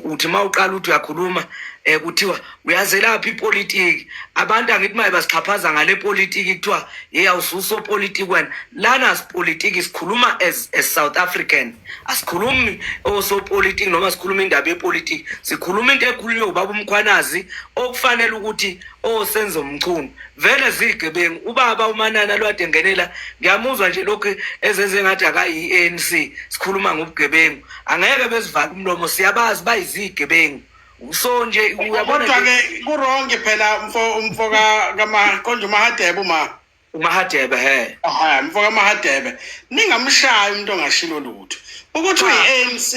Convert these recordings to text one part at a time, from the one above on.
uthi uma uqala ukuthi uyakhuluma um kuthiwa uyazelapha ipolitiki abantu angithi maye basixhaphaza ngale politiki kuthiwa yeyi awususopolitiki wena lana sipolitiki sikhuluma as a south african asikhulumi osopolitiki noma sikhuluma indaba yepolitiki sikhuluma into ekhulunywe ubaba umkhwanazi okufanele ukuthi osenza umchunu vele ziyigebengu ubaba umanana lwade ngenela ngiyamuzwa nje lokhu ezenze ngathi akayi-anc sikhuluma ngobugebengu angeke bezivale umlomo siyabazi bayizigebengu so nje uyabona-ke kurongi phela umfo umfo konje umahadebe uma umahadebe he aha umfo kamahadebe ningamshayi umuntu ongashilo lutho ukuthi uyi-anc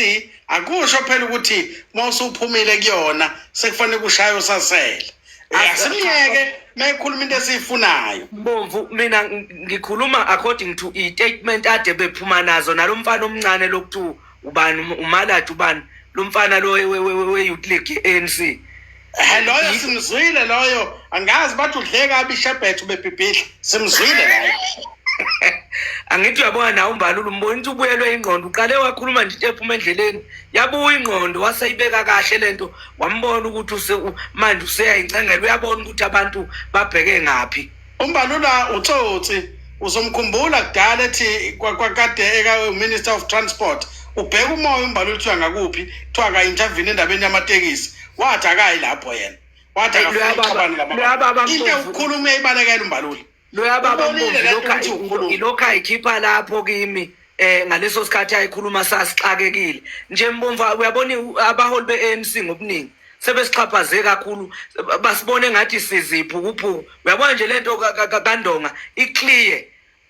akusho phela ukuthi uma usuphumile kuyona sekufanele kushaye usasele asimyeke mayikhuluma into esiyifunayo mbomvu mina ngikhuluma according to i-statement ade bephuma nazo nalo mfana omncane lokuthi ubani umaladi ubani lo mfana lo we-youth league i-anc Eh, loyo simzwile loyo angazi bathi udle kabi ishebhethu bebhibhidla simzwile loyo angithi uyabona nawe umbalula umbona ukuthi ubuyelwe ingqondo uqale wakhuluma nje into ephuma endleleni yabuya ingqondo waseyibeka kahle le nto wambona ukuthi use manje useyayincengela uyabona ukuthi abantu babheke ngaphi umbalula utsotsi uzomkhumbula kudala ethi kwakade ekaminister of transport ubheka umoya umbalula uthiwa ngakuphi kuthiwa ka-intervini endabeni yamatekisi wathi akayi lapho yena wathi akafuni ixabane ngamababa into ewukhuluma uyayibalekela umbalula loyababa mbovu ilokhu ayikhipha lapho kimi eh ngaleso sikhathi ayikhuluma sasixakekile nje mbomva uyabona abaholi be-ANC ngobuningi sebesixhaphaze kakhulu basibone ngathi siziphukuphuku uyabona nje lento kandonga iclear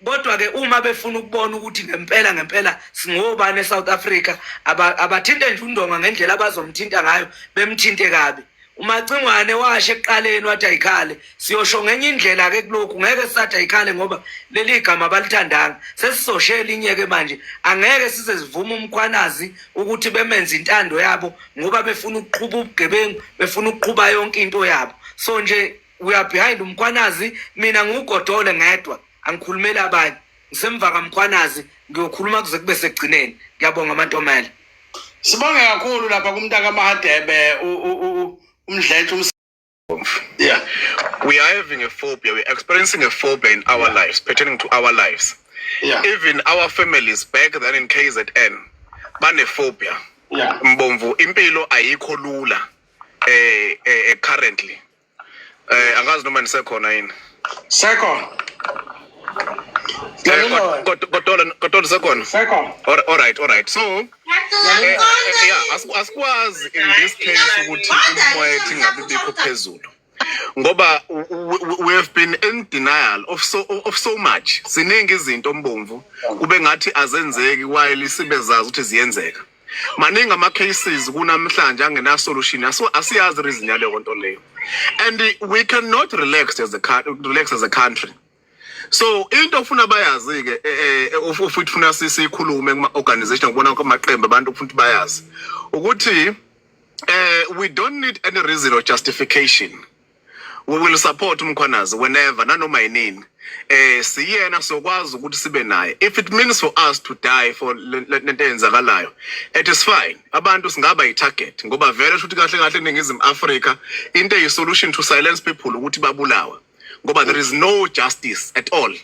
kodwa ke uma befuna ukubona ukuthi ngempela ngempela singobani eSouth Africa abathinte nje undonga ngendlela abazomthinta ngayo bemthinte kabi umacingwane washo ekuqaleni wathi ayikhale siyosho ngenye indlela ke kulokhu ngeke sisathi ayikhale ngoba leli gama abalithandanga sesizosho elinye-ke manje angeke size sivume umkhwanazi ukuthi bemenze intando yabo ngoba befuna ukuqhuba ubugebengu befuna ukuqhuba yonke into yabo so nje we are behind umkhwanazi mina ngiwugodole ngedwa angikhulumeli abanye ngisemva kamkhwanazi ngiyokhuluma kuze kube sekugcineni ngiyabonga amantomela sibonge kakhulu lapha kumntaka mahadebe umdletshe yeah we are having a phobia we're experiencing a phobia in our yeah. lives pertaining to our lives yeah. even our families back then in kzn banephobia yeah. mbomvu impilo ayikho lula eh, eh, eh currently Eh angazi noma nisekhona yini. Sekhona. Eh, kodwa usekhona alright alright so eh, eh, yeah asikwazi in this case ukuthi umoya ethi ngabe bikho phezulu ngoba we have been in denial of so of so much siningi izinto ombomvu kube ngathi azenzeki while sibezazi ukuthi ziyenzeka maningi ama cases kunamhlanje angena solution asiyazi reason yaleyo nto leyo and we cannot relax as a relax as a country so into ofuna bayazi ke eh, eh, ufuthi ufuna sikhulume kuma organization ngibona kumaqembu abantu ufuna bayazi ukuthi eh we don't need any reason or justification we will support umkhwanazi whenever nanoma yinini eh siyena sokwazi ukuthi sibe naye if it means for us to die for lento eyenzakalayo it is fine abantu singaba yi target ngoba vele shuthi kahle kahle eningizimu Africa into eyi solution to silence people ukuthi babulawa ngoba there is no justice at all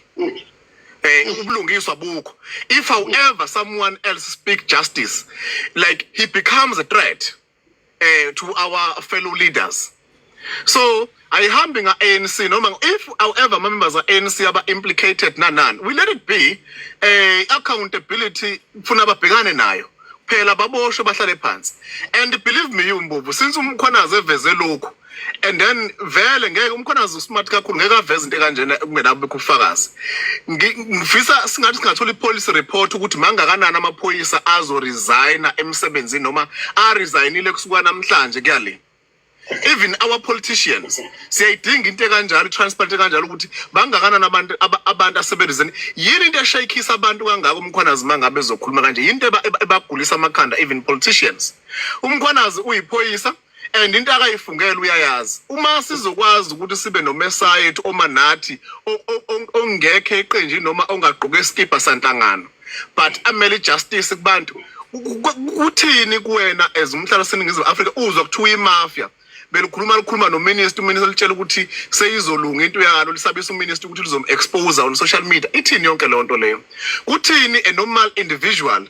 eh ubulungiswa bukho if however someone else speak justice like he becomes a threat eh to our fellow leaders so ayihambi nga ANC noma if however ama members a ANC aba implicated na nani we let it be eh accountability kufuna ababhekane nayo phela baboshwe bahlale phansi and believe me you mbovu since umkhwanazi eveze lokhu and then vele ngeke umkhonazi usmart kakhulu ngeke aveze into ekanjena kungenabikho ubufakazi ngifisa singathi singathola ipolice report ukuthi mangakanani amaphoyisa azoresigna emsebenzini noma aresignile kusuka namhlanje kuyale even our politicians siyayidinga into ekanjalo transparent kanjalo ukuthi bangakanani abantu abantu asebenzeni yini into eshayikisa abantu kangaka umkhwanazi mangabe ezokhuluma kanje yini into ebagulisa amakhanda even politicians umkhwanazi uyiphoyisa and into akayifungela uyayazi uma sizokwazi ukuthi sibe nomesayethu oma nathi ongekho eqenjini noma ongagqoke isikibha sanhlangano but amele justice kubantu kuthini kuwena as umhlalo seningizimu Africa uzwa kuthiwa imafia belikhuluma likhuluma nominister uminister litshela ukuthi seyizolunga into yalo lisabisa uminister ukuthi lizom-expose on social media ithini yonke leyo nto leyo kuthini a normal individual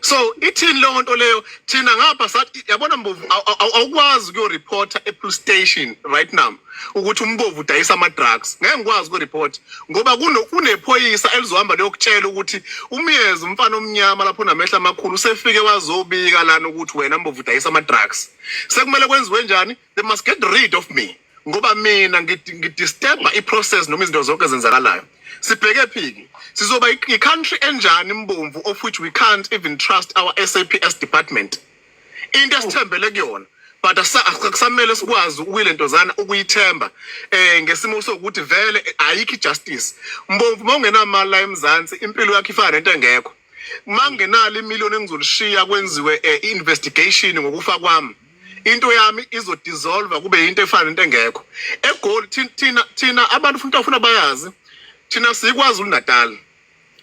so ithini leyo nto leyo thina ngapha sathi yabona mbovu awukwazi ukuyoreporta epolice station right now ukuthi umbovu udayisa ama-drugs ngeke ngikwazi ukureporta ngoba kunephoyisa elizohamba liyokutshela ukuthi umyezi umfana omnyama lapho namehla amakhulu usefike wazobika lana ukuthi wena mbovu udayisa ama-drugs sekumele kwenziwe njani they must get rid of me ngoba mina ngidisturba i-process noma izinto zonke ezenzakalayo sibheke phiki sizoba i-country enjani imbomvu of which we can't even trust our saps department into esithembele kuyona but akusamele sikwazi ukuyile ntozana ukuyithemba um ngesimo sokuthi vele ayikho i-justice mbomvu uma ungenamali la emzansi impilo yakho ifana nento engekho mangenalo imillion engizolishiya kwenziwe eh, i-investigation ngokufa kwami into yami izodissolve kube yinto efana nento engekho egoli thina thina abantu futhi afuna bayazi thina sikwazi uNatal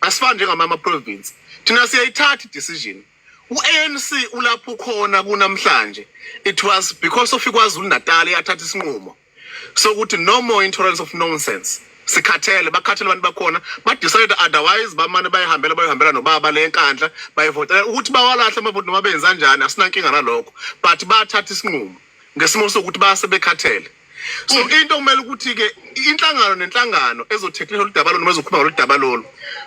asifani njengamama province thina siyayithatha decision uANC ulapho khona kunamhlanje it was because of ikwaZulu Natal yathatha isinqumo sokuthi no more intolerance of nonsense sikhathele bakhathele abantu bakhona badecide otherwise bamane bayihambela bayihambela nobaba le nkandla bayivotela ukuthi bawalahle amavoti noma benza njani asinankinga nalokho but bathatha isinqumo ngesimo sokuthi base bekhathele so mm. into kumele ukuthi ke inhlangano nenhlangano ezothetha lolu daba lolu noma ezokhuluma ngolu daba lolu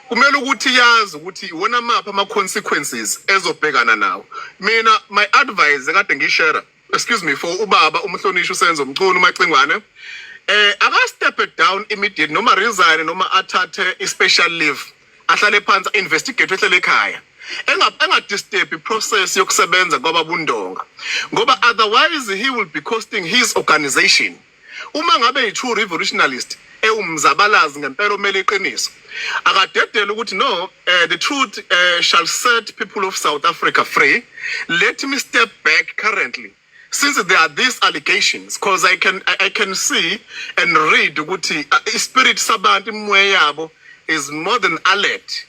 kumele ukuthi yazi ukuthi iwona maphi ama consequences ezobhekana nawo mina my advice kade ngishare excuse me for ubaba umhlonishwa usenzo mchunu umacingwane eh aka step down immediate noma resign noma athathe i special leave ahlale phansi investigate ehlele ekhaya engadisturb iprocess yokusebenza kwababundonga ngoba otherwise he will be costing his organization Uma ngabe yi-true revolutionalist ewumzabalazi ngempela omele iqiniso akadedele ukuthi no uh, the truth uh, shall set people of south africa free let me step back currently since there are these allegations because i can i can see and read ukuthi uh, ispirit sabantu imoya yabo is more than alert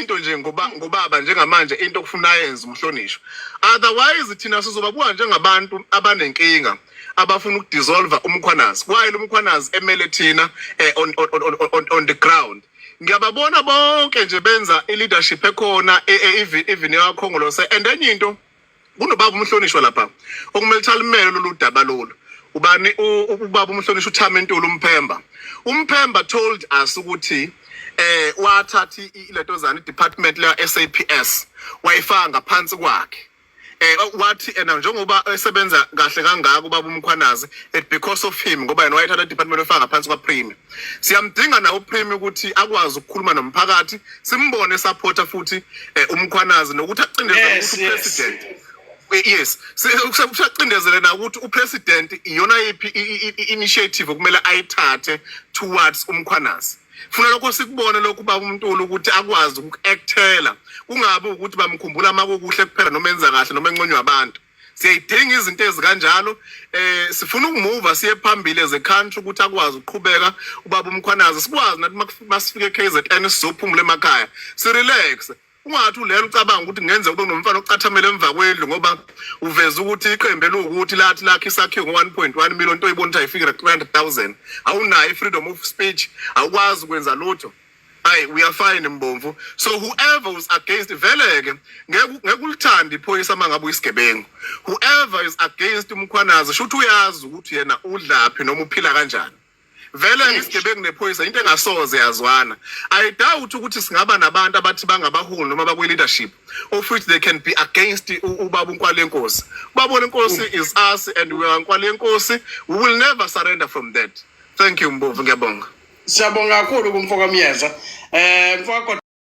into nje ngoba ngobaba njengamanje into okufuna yenze umhlonishwa otherwise thina sizoba buka njengabantu abanenkinga abafuna ukudissolve umkhwanazi kwayile umkhwanazi emele thina eh, on, on, on, on, on the ground ngiyababona bonke nje benza i-leadership ekhona e, e, even yakho ngolose and enye into kunobaba umhlonishwa lapha okumele thalimele lolu daba lolu ubani ubaba umhlonishwa uthama entulu umphemba umphemba told us ukuthi eh wathatha ileto zani department la SAPS wayifaka ngaphansi kwakhe eh wathi ena njengoba esebenza kahle kangaka ubaba umkhwanazi it because of him ngoba yena wayethatha department efaka ngaphansi kwa Prime siyamdinga na uPrime ukuthi akwazi ukukhuluma nomphakathi simbone esapota futhi eh, umkhwanazi nokuthi acindezele yes, ukuthi upresident yes. Eh, yes usacindezele na ukuthi upresident iyona yiphi initiative okumele ayithathe towards umkhwanazi funa lokho sikubone lokhu baba uMntuli ukuthi akwazi uku-actela kungabi ukuthi bamkhumbula uma kukuhle kuphela noma enza kahle noma enconywa abantu siyayidinga izinto ezikanjalo eh sifuna ukumuva siye phambili as a country ukuthi akwazi ukuqhubeka ubaba umkhwanazi sikwazi nathi masifike KZN sizophumula emakhaya si relax ungathi ulelo ucabanga ukuthi ngenze kube nomfana ocathamela emva kwendlu ngoba uveza ukuthi iqembu elukuthi lathi lakhe isakhiwo ngo-1.1 million into oyibona ukuthi ayifiki 300000 awunayo i-freedom of speech awukwazi ukwenza lutho Hey, we are fine Mbomvu. So whoever is against veleke ngeke ulithanda iphoyisa mangabe uyisigebengu. Whoever is against umkhwanazi shuthi uyazi ukuthi yena udlaphi noma uphila kanjani. Vele ngisigebengu nephoyisa into engasoze yazwana. I doubt ukuthi singaba nabantu abathi bangabaholi noma bakwi leadership of which they can be against ubaba uNkwalenkhosi. Ubaba uNkwalenkhosi is us and we are Nkwalenkhosi. We will never surrender from that. thank you mbovu ngiyabonga siyabonga kakhulu kumfoka myeza um mfoka